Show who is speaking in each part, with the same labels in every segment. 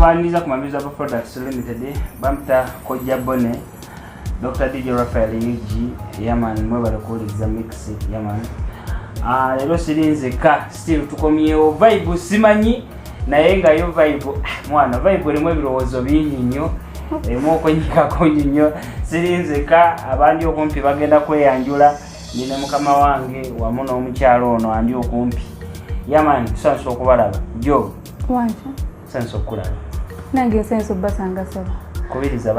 Speaker 1: tubaniriza ku mabizo aba products limited bamuta kojja bone dr dj rafael ug yaman mwebale kuwuliriza mix yaman ah, leero siri nzeka still tukomyewo vibe simanyi naye nga yo vibe ah, mwana vibe erimu ebirowoozo bingi nnyo erimu okwenyikako nyi nnyo siri nzeka abandi okumpi bagenda kweyanjula ndi ne mukama wange wamu n'omukyalo ono andi okumpi yaman tusanyusa okubalaba jo wanki
Speaker 2: sense
Speaker 1: okukulaba nange esense
Speaker 2: obbasanga saba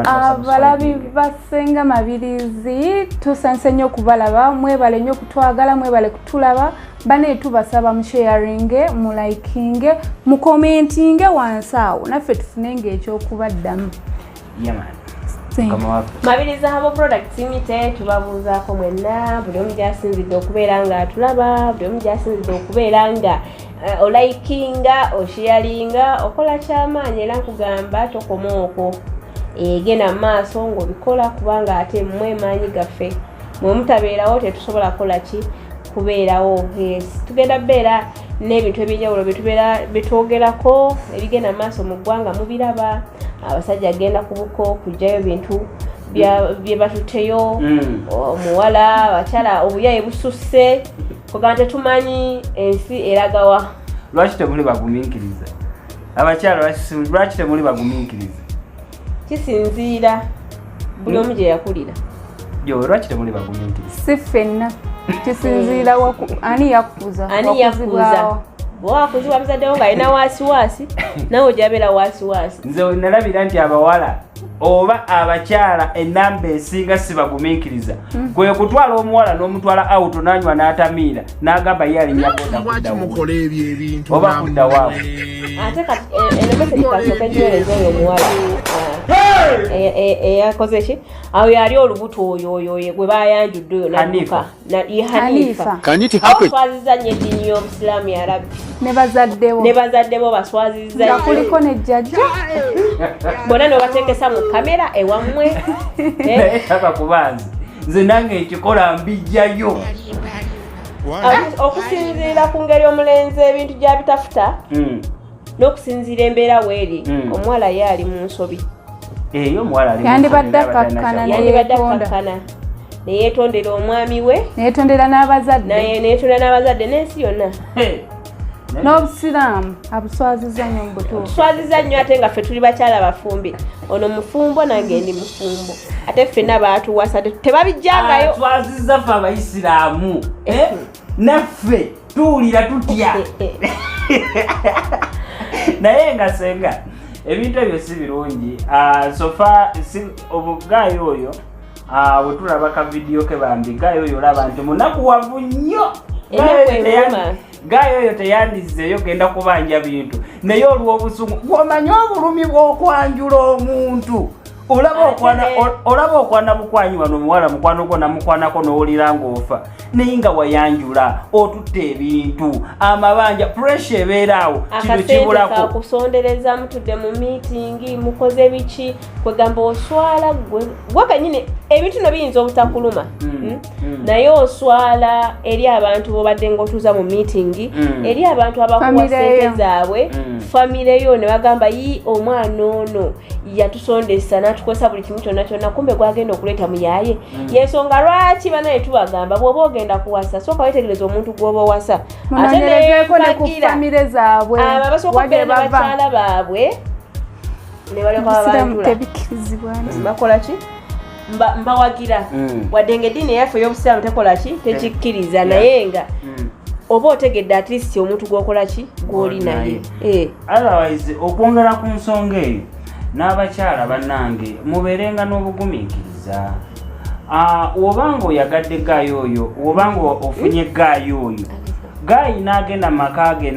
Speaker 1: abalabi
Speaker 2: basenga mabirizi tusense nnyo okubalaba mwebale nnyo okutwagala mwebale kutulaba bane tubasaba musheyaringe mulikinge mukomentinge wansi awo naffe tufune ngaekyokubaddamu
Speaker 3: mabiriza habo products mite tubabuuzaako mwenna buli omu gyasinzidde okubeera nga atulaba buli omu gyasinzidde okubeera nga Eh, olayikinga oshiyalinga okola kyamaanyi era nkugamba tokoma okwo egenda mu maaso ngaobikola kubanga ate mwe maanyi gaffe mwe mutabeerawo tetusobola kukola ki kubeerawo yes tugenda beera n'ebintu ebyenjawulo byetubeera byetwogerako ebigenda mu maaso mu ggwanga mubiraba abasajja agenda kubuko kujjayo bintu bye batuteyo mm. omuwala abakyala obuyaye bususse kuba tetumanyi ensi eragawa lwaki temuli
Speaker 1: bagumiikiriza abakyala lwaki temuli bagumiikiriza kisinziira
Speaker 3: buli omu gye yakulira yo lwaki
Speaker 1: temuli bagumiikiriza si ffenna
Speaker 2: kisinziira ani yakukuza ani yakukuza bwewakuzibwa
Speaker 3: muzaddewo ng'alina waasiwaasi nawe ojabeera waasiwaasi nze nalabira nti
Speaker 1: abawala oba abakyala enamba esinga sibagumiikiriza hmm. kwe kutwala omuwala n'omutwala auto nanywa n'atamiira n'agamba ye alinya bodaobakudawaate
Speaker 3: eyakoze ki awo yali olubuto oyo oyo gwe bayanjudde oyo naduka nabi
Speaker 1: hanifa
Speaker 3: baswaziza nyo eddiini y'obusiraamu ya rabbi ne
Speaker 2: bazadde bo
Speaker 3: baswaziza nga kuliko ne
Speaker 2: jjajja
Speaker 3: bona nebatekesa mu kamera ewammwe eh?
Speaker 1: taka kubanzi nze nange ekikola mbijjayo
Speaker 3: okusinziira ku ngeri omulenzi ebintu gyabitafuta hmm. n'okusinziira embeera weeri hmm. omuwala ye ali mu nsobi eyo omuwala
Speaker 2: yandibadde akkakkana neyetondera
Speaker 3: omwami we neyetondera
Speaker 2: n'abazaddeneyetondera n'abazadde n'ensi yonna
Speaker 3: n'obusiraamu
Speaker 2: abuswaziza nnyo mubutuufu tuswaziza nnyo ate nga ffe
Speaker 3: tuli bakyala bafumbi ono mufumbo nange ndi mufumbo ate ffena baatuwasa tebabijjangayo ah, twaziza ffe
Speaker 1: abayisiraamu eh? naffe tuwulira tutya naye nga senga ebintu ebyo si birungi ah, sofa obugayi oyo ah, wetulaba ka vidiyo ke bambi gayi oyo olaba nti munaku wavu nnyo gayi oyo teyandizzeeyo genda kubanja bintu naye olw'obusungu gwomanya obulumi bw'okwanjula omuntu olaba okwana mukwanyi wano omuwala mukwano gwo namukwanako nowulira ngaofa naye nga wayanjula otutte ebintu amabanja puresha ebeera awo kino kibulakokusondereza
Speaker 3: mutudde mu miitingi mukoze biki kwegamba oswala gwe kanyini ebintu no biyinza obutakuluma hmm. Hmm? Mm. naye oswala eri abantu bobadde ngaotuuza mu miitingi mm. eri abantu abakuwa sente zaabwe mm. famire yo ne bagamba yi omwana ono yatusondesa natukozesa buli kimu kyonna kyonna kumbe gwagenda okuleeta muyaye yensonga lwaki banaye tubagamba bwoba ogenda kuwasa sooka wetegereza omuntu gwoba owasa ate neyekufamire zaabwe abo abasooka okubeera ne bakyala baabwe ne balekababakola ki mbawagira mm. wadde nga eddiini eyaffe ey'obusiraamu tekola ki tekikkiriza naye nga mm. oba otegedde at least omuntu gwokola ki gwoli naye eh. otherwise
Speaker 1: okwongera ku nsonga eyo n'abakyala bannange mubeerenga n'obugumiikiriza ah, woba nga oyagadde gaayi oyo woba nga ofunye gaayi oyo gaayi n'agenda mu maka ge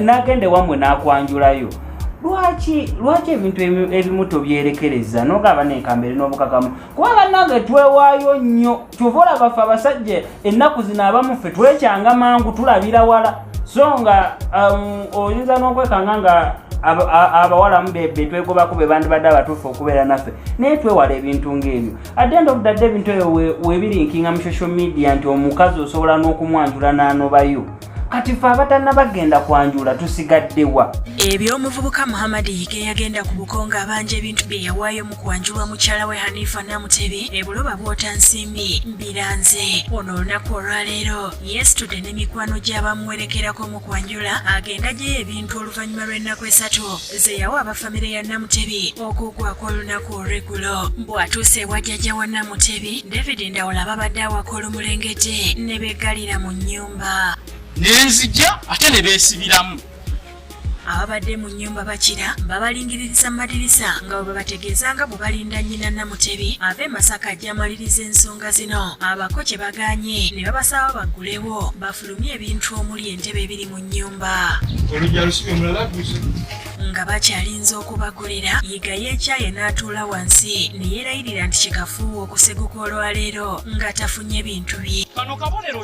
Speaker 1: n'agenda ewamwe n'akwanjulayo na, na lwaki lwaki ebintu ebimu tobyerekereza nogaba nenkambere n'obukakamu kuba banange twewaayo nnyo kyova olabaffe abasajja ennaku zino abamuffe twekyanga mangu tulabira wala so nga um, oyinza n'okwekanga nga abawalamu betwegobako bebandibadde abatuufu okubeera naffe naye twewala ebintu ng'ebyo adend of the day ebintu ebyo webirinkinga mu social media nti omukazi osobola n'okumwanjula n'anobayo kati fe abatanna bagenda kwanjula tusigaddewa ebyo omuvubuka
Speaker 4: muhammad yige yagenda ku bukonga abanja ebintu bye yawaayo mu kwanjulwa mukyala we hanifa namutebi ebuloba bwota nsimbi mbiranze ono olunaku olwaleero yestude ne mikwano gy'abamuwerekerako mu kwanjula agenda gyeyo ebintu oluvannyuma lw'ennaku esatu ze yawa abafamire ya namutebi okugwako olunaku olwegulo bw'atuuse ewa jjajja wa namutebi david ndawula babadde awaka olumulengete ne beggalira mu nnyu nenzija
Speaker 5: ate ne beesibiramu
Speaker 4: ababadde mu nnyumba bakira babalingiririza mu madirisa nga bwe babategeeza nga bwe balinda nnyina namutebi ava e masaka ajja amaliriza ensonga zino abako kye baganye ne babasaba baggulewo bafulumye ebintu omuli entebe ebiri mu nnyumba
Speaker 5: nga
Speaker 4: bakyalinze okubagulira yiga yekyaye n'atuula wansi ne yeerayirira nti kikafuuwa okuseguka olwaleero nga tafunye bintu bye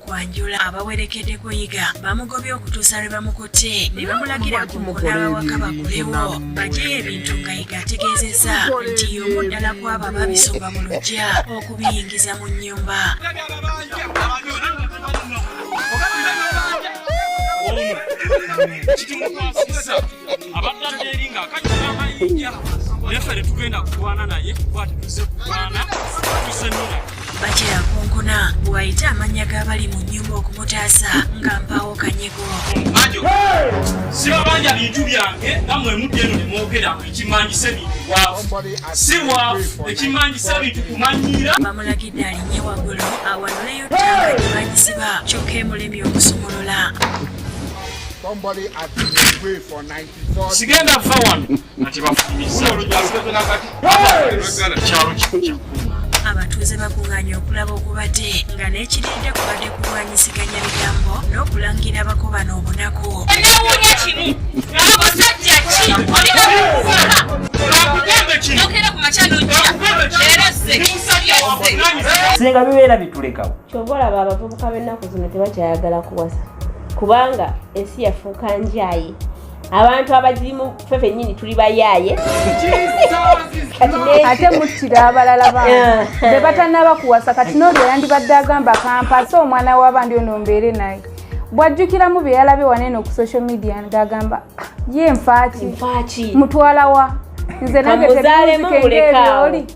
Speaker 4: kwanjula abawerekedde kuyiga bamugobye okutuusa lwe bamukutte ne bamulagira ku mukulaba wakaba kulewo bajeyo ebintu nga yiga ategeezezza nti y'omu ddala kwabo ababisomba mu lujja okubiyingiza mu nnyumba abadde tugenda
Speaker 5: kulwana naye kuba tetuze kulwana tuze nona bakira kunkuna
Speaker 4: wayite amannya g'abali mu nnyumba okumutaasa nga mpaawo kanyigo majo
Speaker 5: sibabanja bintu byange namwe mudde eno nemwogera ekimanyisa ebintu bwavu si bwavu ekimanyisa bintu kumanyiira bamulagidde alinye
Speaker 4: waggulu awanuleyo ttanga gyebanyisiba kyokka emulemi okusumulula
Speaker 6: sigenda fa wano
Speaker 5: ati bafumisa kyalo kikyo abatuuze
Speaker 4: bakunganye okulaba ogubadde nga n'ekirinda kubadde kulwanyiseganya bigambo n'okulangira abakobana obunaku
Speaker 7: singa bibeera
Speaker 1: bitulekawo kyova olaba abavubuka
Speaker 3: b'ennaku zino tebakyayagala kuwasa kubanga ensi yafuuka njaye abantu abagirimu fe fenyini tuli bayaaye
Speaker 2: ate muttira abalala ba bebatanaba kuwasa kati noolyo yandibadde agamba kampasa omwana w'abandi ono mbeere naye bwajjukiramu bye yalabe wanene ku social media ng'agamba ah, ye nfaaki mutwalawa nze nange tebimuzikengeebyoli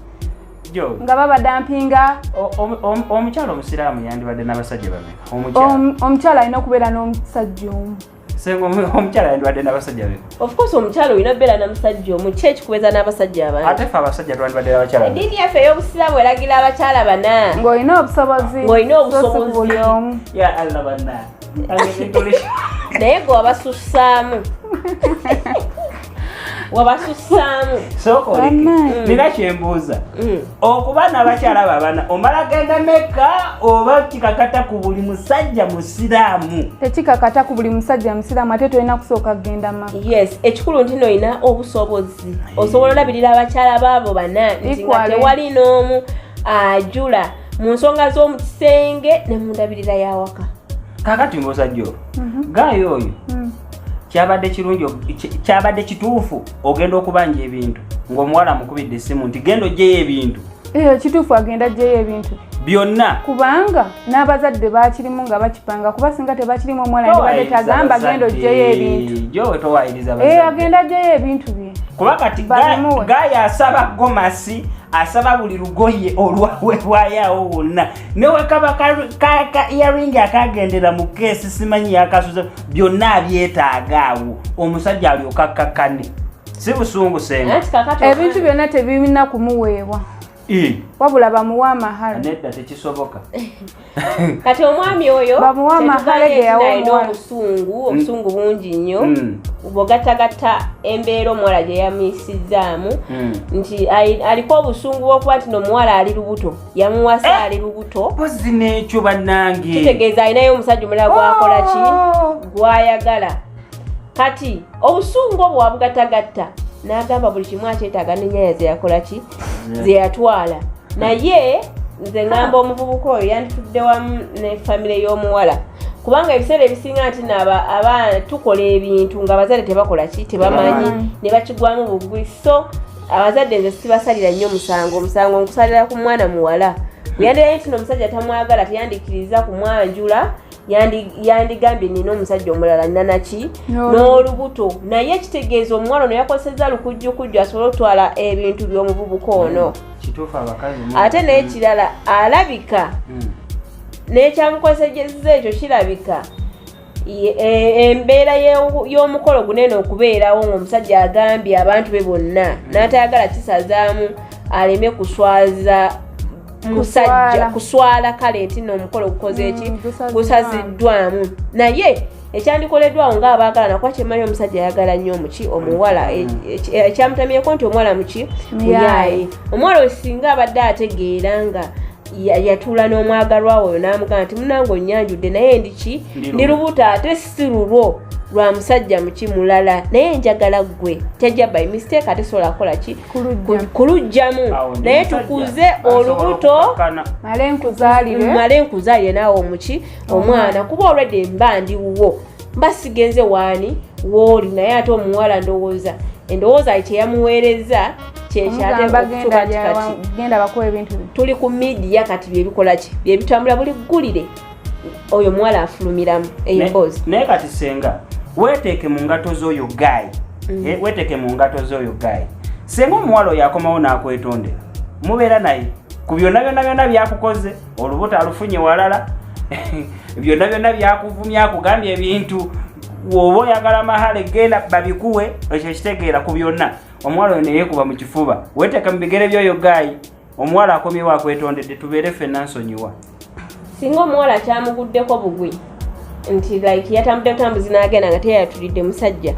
Speaker 2: nga babadampinga
Speaker 1: omukyala omusiraamu yandibadde n'abasajja bameka omukyala alina okubeera
Speaker 2: n'omusajja omu senga
Speaker 1: omukyala yandibadde n'abasajja be ofcourse omukyala olina
Speaker 3: okubeera na musajja omu ki ekikubeeza n'abasajja abana ate fe abasajja twandibadde
Speaker 1: n'abakyala eddiini yaffe ey'obusiraamu
Speaker 3: eragira abakyala bana ng'olina obusobozi
Speaker 2: ng'olina obusobozi ya
Speaker 3: allah
Speaker 1: banna
Speaker 3: naye gwe wabasussaamu
Speaker 1: wabasussaamu sooka oleke mm. nina kyembuuza mm. okuba nabakyala babana omala genda meka oba kikakata ku buli musajja musiraamu tekikakata ku buli
Speaker 2: musajja musiraamu ate tolina kusooka kugenda maka yes ekikulu nti
Speaker 3: noyina obusobozi osobola olabirira abakyala baabo bana nti nga tewali n'omu ajula mu nsonga z'omu kisenge ne mundabirira yawaka kakati
Speaker 1: ngaosajja olwo mhm. gaayo oyo mm. kyabadde kirungi kyabadde kituufu ogenda okubanja ebintu ng'omuwala amukubidde essimu nti genda ojjeyo ebintu eyo kituufu agenda
Speaker 2: ajjeyo ebintu byonna
Speaker 1: kubanga
Speaker 2: n'abazadde bakirimu nga bakipanga kuba singa tebakirimu omwana ndibadde tagamba genda ojjeyo ebintu eh,
Speaker 1: agenda ajjeyo ebintu
Speaker 2: bye kuba kati
Speaker 1: gaya asaba gomasi asaba buli lugoye olwawebwayawo wonna newekaba ka earing akagendera mu keesi simanyi yakasuza byonna abyetaaga awo omusajja alyoka akkakkane si busungu senga eh, ebintu byonna
Speaker 2: tebirina kumuweebwa wabula bamuwa amahale nedda tekisoboka
Speaker 3: kati omwami oyo bamuwa amahale
Speaker 2: geyawomuwa obusungu mm. obusungu
Speaker 3: bungi nnyo mm. bwogattagatta embeera omuwala gye yamuyisizzaamu mm. nti aliko obusungu bwokuba nti nomuwala ali lubuto yamuwasa eh, ali lubuto mpozi nekyo
Speaker 1: banange kitegeeza alinayo omusajja
Speaker 3: omulala gwakola ki oh. gwayagala kati obusungu obwo wabugatagatta n'agamba buli kimu akyetaaga nenyaya zeyakola ki zeyatwala naye nze ngamba omuvubuka oyo yanditudde wamu ne famire y'omuwala kubanga ebiseera ebisinga nti naba aba tukola ebintu nga abazadde tebakola ki tebamanyi ne bakigwamu bugwi so abazadde nze sibasalira nnyo musango omusango nkusalira ku mwana muwala yandirayo nti nomusajja tamwagala teyandikiriza kumwanjula yandigambye nina omusajja omulala nanaki n'olubuto naye ekitegeeza omuwala ono yakozeseza lukujjukujju asobole okutwala ebintu by'omuvubuka ono hmm, ate n'ekirala alabika hmm. n'ekyamukozeseza ekyo kirabika E, embeera y'omukolo guno eno okubeerawo ng'omusajja agambye abantu be bonna hmm. n'atayagala kisazaamu aleme kuswaza musajja kuswala kale nti no omukolo gukoze hmm, eki gusaziddwamu naye ekyandikoleddwawo ngaabaagala nakuba kyemanyi omusajja ayagala nnyo omuki omuwala e, e, ekyamutamyeko nti omuwala muki muyaaye omuwala osinga abadde ategeera nga yatuula n'omwagalwa oyo n'amugamba nti munange onyanjudde naye ndiki ndi lubuto ate si lulwo lwa musajja muki mulala naye njagala gwe tajja by mistake ate sobola kukola ki kulugjamu naye tukuze olubuto male nkuzaalire naawe omuki omwana kuba olwedde mba ndiwuwo mba sigenze waani wooli naye ate omuwala ndowooza endowooza ye kyeyamuweereza kyekyategenda bakuwa ebintu tuli ku midiya kati byebikolaki byebitambula buli ggulire oyo omuwala afulumiramu emboozi naye kati senga
Speaker 1: weteeke mu ngato z'oyo gaayi mm. eh, weteeke mu ngato z'oyo gaayi senga omuwala oyo akomawo n'akwetondera mubeera naye ku byonna byonna byonna byakukoze olubuto alufunye walala byonna byonna byakuvumya akugambye ebintu woba oyagala mahale genda babikuwe ekyo kitegeera ku byonna omuwala oyo neyekuba mu kifuba weteeka mu bigere byoyo gaayi omuwala akomyewo akwetondedde tubeere ffe nansonyiwa singa
Speaker 3: omuwala kyamuguddeko bugwi nti like yatambudde butambuzi n'agenda nga teyatulidde musajja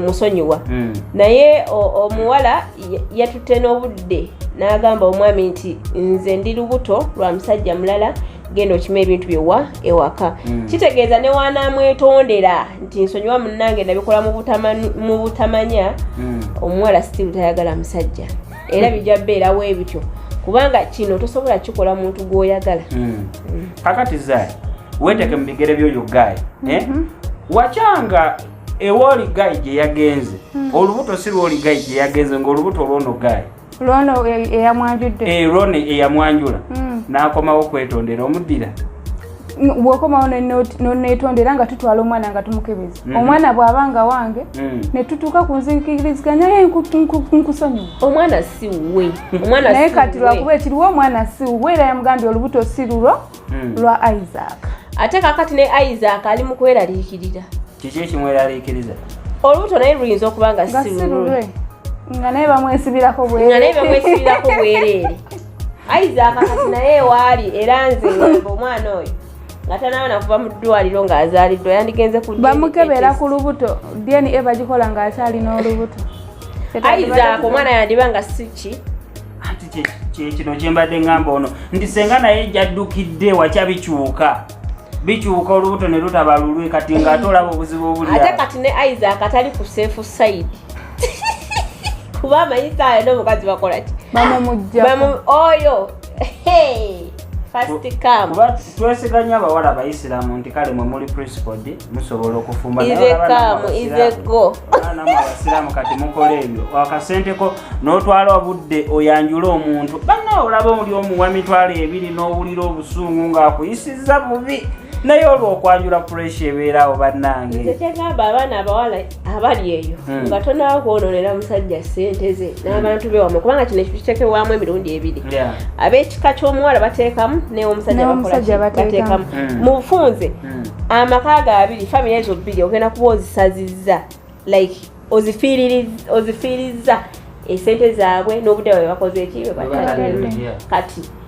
Speaker 3: musonyiwa hmm. naye omuwala yatutte n'obudde n'agamba omwami nti nze ndi lubuto lwa musajja mulala genda okima ebintu byewa ewaka hmm. kitegeeza ne waanaamwetondera nti nsonyiwa munnange nabikola mu butamanya hmm. omuwala sitiru tayagala musajja era bijja beera webityo kubanga kino tosobola kikola muntu gwoyagala hmm. hmm. kakati
Speaker 1: zai weteke mubigere byoyo gayi eh? mhm. wakyanga ewoli gayi gyeyagenze hmm. olubuto si lwoli gayi gyeyagenze ngaolubuto olwono gayi lwono
Speaker 2: eyamwanjudde eh, lwono
Speaker 1: eyamwanjula nakomawo kwetondera omuddira
Speaker 2: bwokomawo nonetonda era nga tutwala omwana nga tumukebeza mhm. omwana bwaba nga wange mm. netutuuka ku nzikiriziganya ye nkusonyiwa omwana
Speaker 3: siwe naye kati
Speaker 2: lwakuba ekiriwo omwana siwe era yamugambye olubuto si lulwo mm. lwa isaac ate kakati ne
Speaker 3: isaac ali mu kweraliikirira kiki
Speaker 1: ekimweraliikiriza olubuto naye
Speaker 3: luyinza okuba nga sirulwe nga naye
Speaker 2: bamwesibirako nga naye bamwesibirako
Speaker 3: bwereere ayiza akakati naye ewaali era nze ngamba omwana oyo nga tanaaba nakuva mu ddwaliro ng'azaaliddwa yandigenze ku bamukebera ku lubuto
Speaker 2: dna e bagikola ng'akyali n'olubuto ayizaako
Speaker 3: omwana yandiba nga siki
Speaker 1: kino kyembadde ngamba ono nti senga naye jaddukidde wakyabikyuka bikyuka olubuto ne lutaba lulwe kati nga ate olaba obuzibu obuli ate kati ne isaac
Speaker 3: atali ku safe side kuba amanyi saayo n'omukazi bakola ki oyo twesiganyo abawala
Speaker 1: abayisiramu nti kale mwe muli principal di musobola okufumba izekamu izego abasiraamu kati mukola ebyo wakasenteko n'otwala obudde oyanjula omuntu banna olaba oli omuwa mitwalo ebiri n'owulira obusungu ng'akuyisizza bubi naye olwokwanjula puresha ebeerawo bannange
Speaker 3: abali eyo hmm. nga tonawo kwononera musajja sente ze hmm. n'abantu be wamu kubanga kino ekitekewamu emirundi ebiri ab'ekika ky'omuwala bateekamu newomusajja bateekamu hmm. mu bufunze amaka ga abiri famiry ezo bbiri ogenda kuba ozisazizza like ozifiirizza esente zaabwe n'obudde bwe bakoze eki bwe batatende kati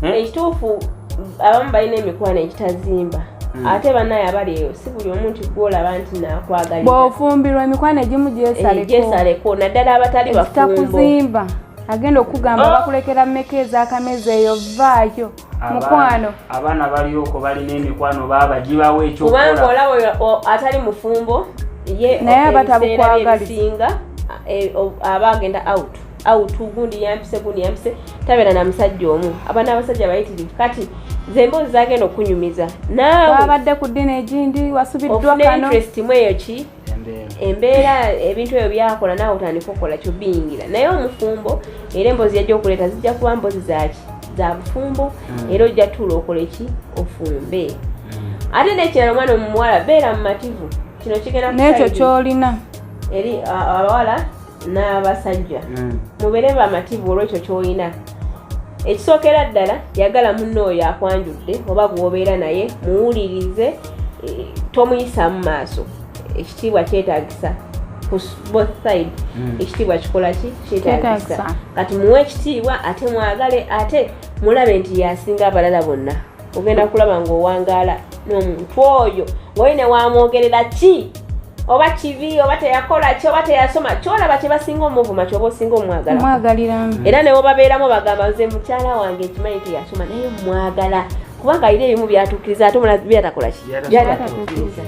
Speaker 1: hmm?
Speaker 3: ekituufu abamu balina emikwano
Speaker 1: egitazimba
Speaker 3: hmm. ate banaye abali eyo si buli omu nti gwolaba nti nakwagalibwaofumbirwa emikwano
Speaker 2: egimu gyesaleko eh,
Speaker 3: naddala abatali bafumbokuzimba
Speaker 2: agenda okugamba oh! bakulekera meka ezakamezi eyo vaayo mukwano abaana balioko
Speaker 1: balina emikwano baba gibawo ekyokubanga olaba
Speaker 3: atali mufumbo ye naye
Speaker 2: abatabukwagalsinga eh,
Speaker 3: aba agenda out au tu gundi yampise gundi yampise tabera na musajja omu abana abasajja bayitirivu kati zembo zagenda okunyumiza naawe wabadde ku ddini
Speaker 2: egindi wasubiddwa kano interest mweyo ki
Speaker 3: embeera ebintu ebyo byakola naawe otandika okukola kyo biyingira naye omufumbo era emboozi yajja okuleeta zijja kuba mboozi zaki za bufumbo hmm. era ojja tuula okola eki ofumbe hmm. ate nekirala omwana omuwala beera mumativu kino kigenda nekyo kyolina
Speaker 2: eri
Speaker 3: abawala n'abasajja mm. mubeere bamativu olwekyo kyolina ekisookera ddala yagala munna oyo akwanjudde oba gwobeera naye muwulirize e, tomuyisamu maaso ekitiibwa kyetagisa both side mm. ekitiibwa kikola ki kyetagisa kati muwe ekitiibwa ate mwagale ate mulabe nti yasinga abalala bonna ogenda kulaba ng'owangaala n'omuntu oyo ng'oyo ne waamwogerera ki oba kibi oba teyakola ki oba teyasoma kyolaba kyebasinga omuvuma kyoba osinga omwagalaamu era newobabeeramu bagamba nze mukyala wange ekimanyi teyasoma naye mwagala kubanga ayina ebimu byatukiriza ate omulazi byatakola ki byatatukiriza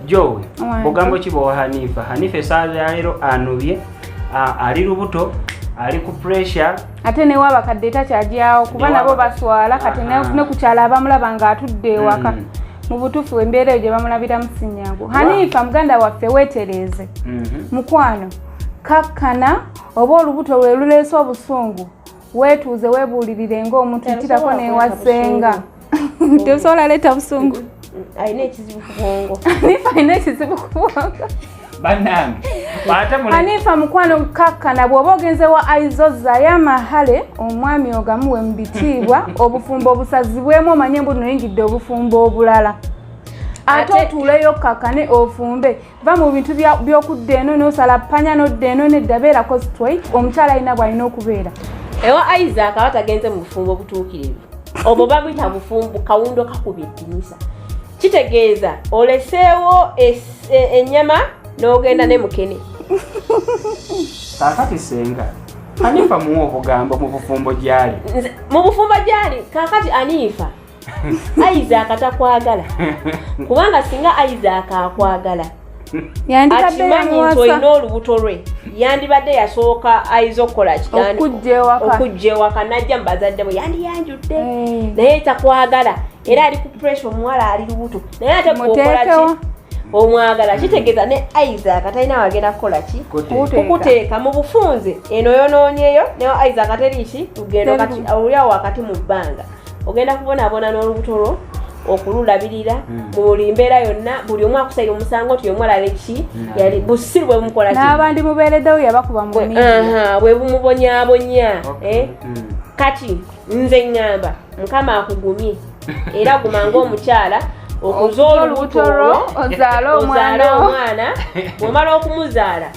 Speaker 1: jowe ogambo ki bowa hanifa hanifa esaala yaleero anobye ali lubuto ali ku pressure ate newe abakadde
Speaker 2: takyagyawo kuba nabo baswala kati nekukyala abamulaba nga atudde ewaka mm. mu butuufu embeera eyo gye bamulabiramu sinyangu hanifa muganda waffe weetereeze mhm. mukwano kakkana oba olubuto lwe luleese obusungu wetuuze webuulirire ng'omuntu yitirako newasenga tebusobola leeta busungu
Speaker 3: alina ekizibu
Speaker 2: ku bwongo
Speaker 1: nifa alina ekizibu ku bwongo
Speaker 2: anifa mukwano kakkana bw'oba ogenze wa aizo zayo amahale omwami ogamuwe mu bitiibwa obufumbo obusazibwemu omanye mbu noyingidde obufumbo obulala ate otuuleyo kakkane ofumbe va mu bintu by'okudda eno n'osala panya n'odda eno nedda beera costway omukyala alina bw'alina okubeera ewa isaac
Speaker 3: aba tagenze mu bufumbo obutuukirivu obwo baguyita bufumbo kawundo kakuba eddinisa kitegeeza oleseewo ennyama n'ogenda ne mukene kakati
Speaker 1: senga anifa muwa obugambo mu bufumbo gyali mu bufumbo gyali kakati anifa
Speaker 3: isaac takwagala kubanga singa isaac akwagala akimanyi nti olina olubuto lwe yandibadde yasooka ayiza okukola kiokujja ewaka najja mu bazadde bwe yandiyanjudde eh. naye takwagala era ali ku pressure omuwala ali lubuto naye ate gwokolaki omwagala kitegeeza ne isaac talina wagenda kukola ki kukuteeka mu bufunze eno yonoonyeyo ne isaac teriiki lugendo kati awulyawo wakati mu bbanga ogenda kubonaabona n'olubuto lwo okululabirira hmm. mu buli mbeera yonna buli omu akusaira omusango nti omu alala eki hmm. yali busiru bwe bumukola n'abandi mubeereddewo
Speaker 2: yabakuba mu bwe
Speaker 3: bumubonyabonya eh? hmm. kati nze ŋŋamba mukama akugumye era guma ng'omukyala okuza olubuto lwo ozaale
Speaker 2: omwana omwana bw'omala
Speaker 3: okumuzaala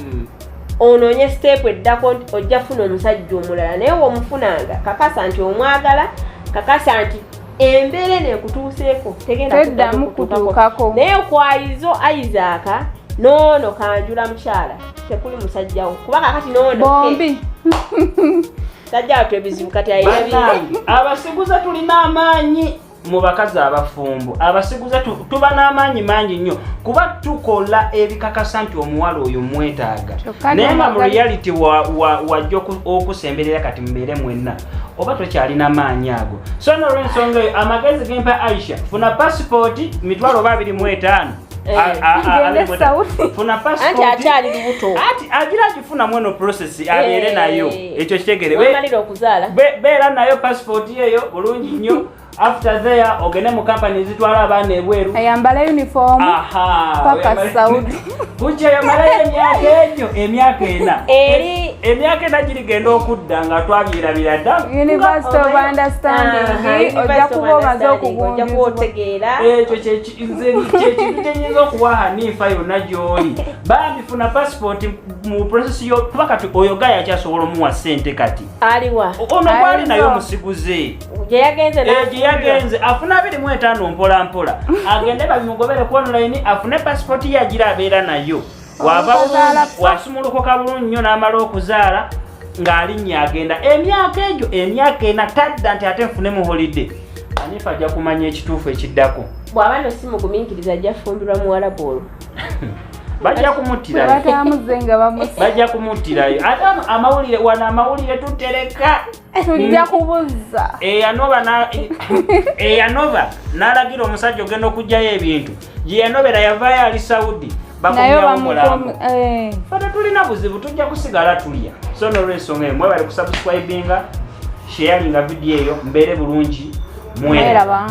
Speaker 3: onoonye siteepu eddako nti ojja funa omusajja omulala naye womufunanga kakasa nti omwagala kakasa nti embeera eno ekutuuseeko tegendaeddamu kutuukako
Speaker 2: naye okwayizo
Speaker 3: isaaka noono kanjula mukyala tekuli musajjawo kuba kakati noono bombi sajjawo twebizibu kati ayinabi abasiguze
Speaker 1: tulina amaanyi mu bakazi abafumbo abasiguze tuba n'amaanyi mangi nnyo kuba tukola ebikakasa nti omuwala oyo mwetaaga naye nga mu reality wajja okusemberera kati mubeere mwenna oba tokyalina maanyi ago so nolwensonga eyo amagezi gempa aisha funa pasipooti mitwalo oba abiri mu etaano Eh, ah, ah, ah, anti akyali lubuto
Speaker 3: ati agira agifuna
Speaker 1: mweno process eh, abeere nayo ekyo kitegereamalira okuzaala
Speaker 3: beera nayo
Speaker 1: passport yeyo bulungi nnyo after there ogende mu company zitwala abaana ebweru ayambala uniform
Speaker 2: paka saudi kukya yamalayo
Speaker 1: emyaka egyo emyaka ena eri emyaka ena girigenda okudda nga twabyerabira dda university of
Speaker 2: understanding ojja kuba omaze okugunjuzibwa ekyo
Speaker 1: nze kyekintu kyenyinza okuwa hanifa yonna gyoli bambi funa passport mu process yo kuba kati oyo gaya akyasobola omuwa sente kati
Speaker 3: aliwa
Speaker 1: ono gwali
Speaker 3: naye
Speaker 1: omusiguze gyeyagenze eh, afune abiri mu etaano mpola mpola agende babimugobere ku online afune passport ye agira abeera nayo wava bulungi wasumulukuka bulungi nnyo n'amala okuzaala ng'alinnya agenda emyaka egyo emyaka ena tadda nti ate nfune mu holide anifa ajja kumanya ekituufu ekiddako bw'aba no si
Speaker 3: mugumiikiriza ajja fumbirwa muwalabu olwo bajja
Speaker 1: kumuttirayo bajja kumuttirayo ate amawulire wano amawulire tutereka tujja mm.
Speaker 2: kubuzza eyanova eh,
Speaker 1: eyanova eh, n'alagira omusajja ogenda okugjayo ebintu gye yanobera yavaayo ali saudi bakumyawomulambo eh. fata tulina buzibu tujja kusigala tulya so nolwensonga eyo mwebale kusubscribinga sheyalinga vidiyo eyo mbeere bulungi mweraba